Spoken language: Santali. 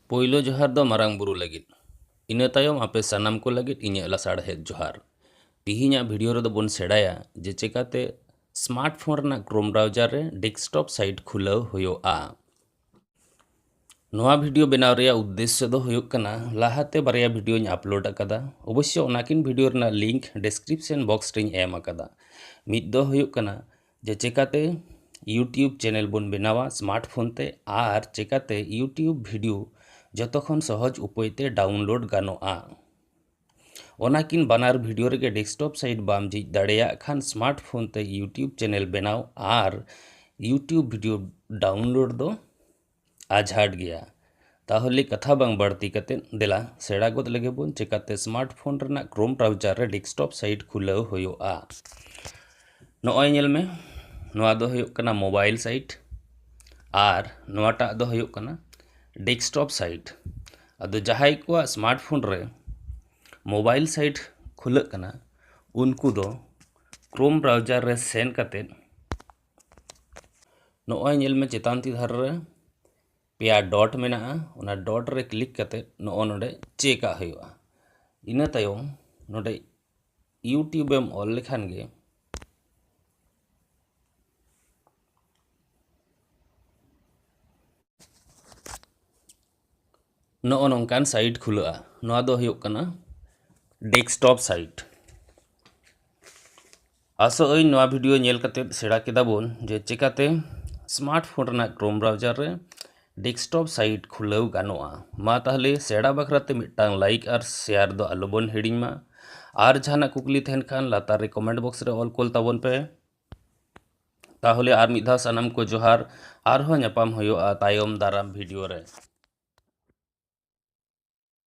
ᱯᱳᱭᱞᱳ ᱡᱚᱦᱟᱨ ᱫᱚ ᱢᱟᱨᱟᱝ ᱵᱩᱨᱩ ᱞᱟᱹᱜᱤᱫ ᱤᱱᱟᱹ ᱛᱟᱭᱚᱢ ᱟᱯᱮ ᱥᱟᱱᱟᱢ ᱠᱚ ᱞᱟᱹᱜᱤᱫ ᱤᱧᱟᱹᱜ ᱞᱟᱥᱟᱲᱦᱮᱫ ᱡᱚᱦᱟᱨ ᱛᱤᱦᱤᱧᱟᱜ ᱵᱷᱤᱰᱤᱭᱳ ᱨᱮᱫᱚ ᱵᱚᱱ ᱥᱮᱬᱟᱭᱟ ᱡᱮ ᱪᱮᱠᱟᱛᱮ ᱥᱢᱟᱨᱴ ᱯᱷᱳᱱ ᱨᱮᱱᱟᱜ ᱠᱨᱳᱢ ᱵᱨᱟᱣᱡᱟᱨ ᱨᱮ ᱰᱮᱥᱠᱴᱚᱯ ᱥᱟᱭᱤᱴ ᱠᱷᱩᱞᱟᱹᱣ ᱦᱩᱭᱩᱜᱼᱟ ᱱᱚᱣᱟ ᱵᱷᱤᱰᱤᱭᱳ ᱵᱮᱱᱟᱣ ᱨᱮᱭᱟᱜ ᱩᱫᱽᱫᱮᱥᱥᱚ ᱫᱚ ᱦᱩᱭᱩᱜ ᱠᱟᱱᱟ ᱞᱟᱦᱟᱛᱮ ᱵᱟᱨᱭᱟ ᱵᱷᱤᱰᱤᱭᱳᱧ ᱟᱯᱞᱳᱰ ᱟᱠᱟᱫᱟ ᱚᱵᱚᱥᱥᱚ ᱚᱱᱟᱠᱤᱱ ᱵᱷᱤᱰᱤᱭᱳ ᱨᱮᱱᱟᱜ ᱞᱤᱝᱠ ᱰᱮᱥᱠᱨᱤᱯᱥᱚᱱ ᱵᱚᱠᱥ ᱨᱮᱧ ᱮᱢ ᱟᱠᱟᱫᱟ ᱢᱤᱫ ᱫᱚ ᱦᱩᱭᱩᱜ ᱠᱟᱱᱟ ᱡᱮ ᱪᱮᱠᱟᱛᱮ ᱤᱭᱩᱴᱤᱭᱩᱵᱽ ᱪᱮᱱᱮᱞ ᱵᱚᱱ ᱵᱮᱱᱟᱣᱟ ᱥᱢᱟᱨᱴ ᱯᱷᱳᱱ ᱛᱮ ᱟᱨ ᱪᱮᱠᱟᱛᱮ ᱤᱭᱩᱴᱤᱭᱩᱵᱽ ᱵᱷᱤᱰᱤᱭᱳ ᱡᱚᱛᱚ ᱠᱷᱚᱱ ᱥᱚᱦᱚᱡᱽ ᱩᱯᱟᱹᱭ ᱛᱮ ᱰᱟᱣᱩᱱᱞᱳᱰ ᱜᱟᱱᱚᱜᱼᱟ ᱚᱱᱟ ᱠᱤᱱ ᱵᱟᱱᱟᱨ ᱵᱷᱤᱰᱤᱭᱳ ᱨᱮᱜᱮ ᱰᱮᱥᱠᱴᱚᱯ ᱥᱟᱭᱤᱴ ᱵᱟᱢ ᱡᱷᱤᱡ ᱫᱟᱲᱮᱭᱟᱜ ᱠᱷᱟᱱ ᱥᱢᱟᱨᱴ ᱯᱷᱳᱱ ᱛᱮ ᱤᱭᱩᱴᱤᱭᱩᱵᱽ ᱪᱮᱱᱮᱞ ᱵᱮᱱᱟᱣ ᱟᱨ ᱤᱭᱩᱴᱤᱭᱩᱵᱽ ᱵᱷᱤᱰᱤᱭᱳ ᱰᱟᱣᱩᱱᱞᱳᱰ ᱫᱚ ᱟᱡᱷᱟᱴ ᱜᱮᱭᱟ ᱛᱟᱦᱚᱞᱮ ᱠᱟᱛᱷᱟ ᱵᱟᱝ ᱵᱟᱹᱲᱛᱤ ᱠᱟᱛᱮ ᱫᱮᱞᱟ ᱥᱮᱬᱟ ᱜᱚᱫ ᱞᱮᱜᱮ ᱵᱚᱱ ᱪᱮᱠᱟᱛᱮ ᱥᱢᱟᱨᱴ ᱯᱷᱳᱱ ᱨᱮᱱᱟᱜ ᱠᱨᱳᱢ ᱵᱨᱟᱣᱡᱟᱨ ᱨᱮ ᱰᱮᱥᱠᱴᱚᱯ ᱥᱟᱭᱤᱴ ᱠᱷᱩᱞᱟᱹᱣ ᱦᱩᱭᱩᱜᱼᱟ ᱱᱚᱜᱼᱚᱭ ᱧᱮᱞ ᱢᱮ ᱱᱚᱣᱟ ᱫᱚ ᱦᱩᱭᱩᱜ ᱠᱟᱱᱟ ᱢᱳᱵᱟᱭᱤᱞ ᱥᱟᱭᱤᱴ ᱟᱨ ᱱᱚᱣᱟᱴᱟᱜ ᱫᱚ ᱦᱩᱭᱩᱜ ᱠᱟᱱᱟ ᱰᱮᱥᱠᱴᱚᱯ ᱥᱟᱭᱤᱴ ᱟᱫᱚ ᱡᱟᱦᱟᱸᱭ ᱠᱚᱣᱟᱜ ᱥᱢᱟᱨᱴ ᱯᱷᱳᱱ ᱨᱮ ᱢᱳᱵᱟᱭᱤᱞ ᱥᱟᱭᱤᱴ ᱠᱷᱩᱞᱟᱹᱜ ᱠᱟᱱᱟ ᱩᱱᱠᱩ ᱫᱚ ᱠᱨᱳᱢ ᱵᱨᱟᱣᱡᱟᱨ ᱨᱮ ᱥᱮᱱ ᱠᱟᱛᱮ ᱱᱚᱜᱼᱚᱭ ᱧᱮᱞ ᱢᱮ ᱪᱮᱛᱟᱱ ᱛᱤ ᱫᱷᱟᱨᱮ ᱨᱮ ᱯᱮᱭᱟ ᱰᱚᱴ ᱢᱮᱱᱟᱜᱼᱟ ᱚᱱᱟ ᱰᱚᱴ ᱨᱮ ᱠᱞᱤᱠ ᱠᱟᱛᱮᱫ ᱱᱚᱜᱼᱚ ᱱᱚᱰᱮ ᱪᱮᱠᱟᱜ ᱦᱩᱭᱩᱜᱼᱟ ᱤᱱᱟᱹ ᱛᱟᱭᱚᱢ ᱱᱚᱰᱮ ᱤᱭᱩᱴᱤᱭᱩᱵᱽ ᱮᱢ ᱚᱞ ᱞᱮᱠᱷᱟᱱ ᱜᱮ ᱱᱚᱜᱼᱚ ᱱᱚᱝᱠᱟᱱ ᱥᱟᱭᱤᱴ ᱠᱷᱩᱞᱟᱹᱜᱼᱟ ᱱᱚᱣᱟ ᱫᱚ ᱦᱩᱭᱩᱜ ᱠᱟᱱᱟ ᱰᱮᱥᱠᱴᱚᱯ ᱥᱟᱭᱤᱴ ᱟᱥᱚᱜ ᱟᱹᱧ ᱱᱚᱣᱟ ᱵᱷᱤᱰᱤᱭᱳ ᱧᱮᱞ ᱠᱟᱛᱮᱫ ᱥᱮᱬᱟ ᱠᱮᱫᱟ ᱵᱚᱱ ᱡᱮ ᱪᱮᱠᱟᱛᱮ ᱥᱢᱟᱨᱴᱯᱷᱳᱱ ᱨᱮᱱᱟᱜ ᱠᱨᱳᱢ ᱵᱨᱟᱣᱡᱟᱨ ᱨᱮ ᱰᱮᱥᱠᱴᱚᱯ ᱥᱟᱭᱤᱴ ᱠᱷᱩᱞᱟᱹᱣ ᱜᱟᱱᱚᱜᱼᱟ ᱢᱟ ᱛᱟᱦᱚᱞᱮ ᱥᱮᱬᱟ ᱵᱟᱠᱷᱨᱟᱛᱮ ᱢᱤᱫᱴᱟᱝ ᱞᱟᱭᱤᱠ ᱟᱨ ᱥᱮᱭᱟᱨ ᱫᱚ ᱟᱞᱚᱵᱚᱱ ᱦᱤᱲᱤᱧ ᱢᱟ ᱟᱨ ᱡᱟᱦᱟᱱᱟᱜ ᱠᱩᱠᱞᱤ ᱛᱟᱦᱮᱱ ᱠᱷᱟᱱ ᱞᱟᱛᱟᱨ ᱨᱮ ᱠᱚᱢᱮᱱᱴ ᱵᱚᱠᱥ ᱨᱮ ᱚᱞ ᱠᱳᱞ ᱛᱟᱵᱚᱱ ᱯᱮ ᱛᱟᱦᱚᱞᱮ ᱟᱨ ᱢᱤᱫ ᱫᱷᱟᱣ ᱥᱟᱱᱟᱢ ᱠᱚ ᱡᱚᱦᱟᱨ ᱟᱨᱦᱚᱸ ᱧᱟᱯᱟᱢ ᱦᱩᱭᱩᱜᱼᱟ ᱛᱟᱭᱚᱢ ᱫᱟᱨᱟᱢ ᱵᱷᱤᱰᱤᱭᱳ ᱨᱮ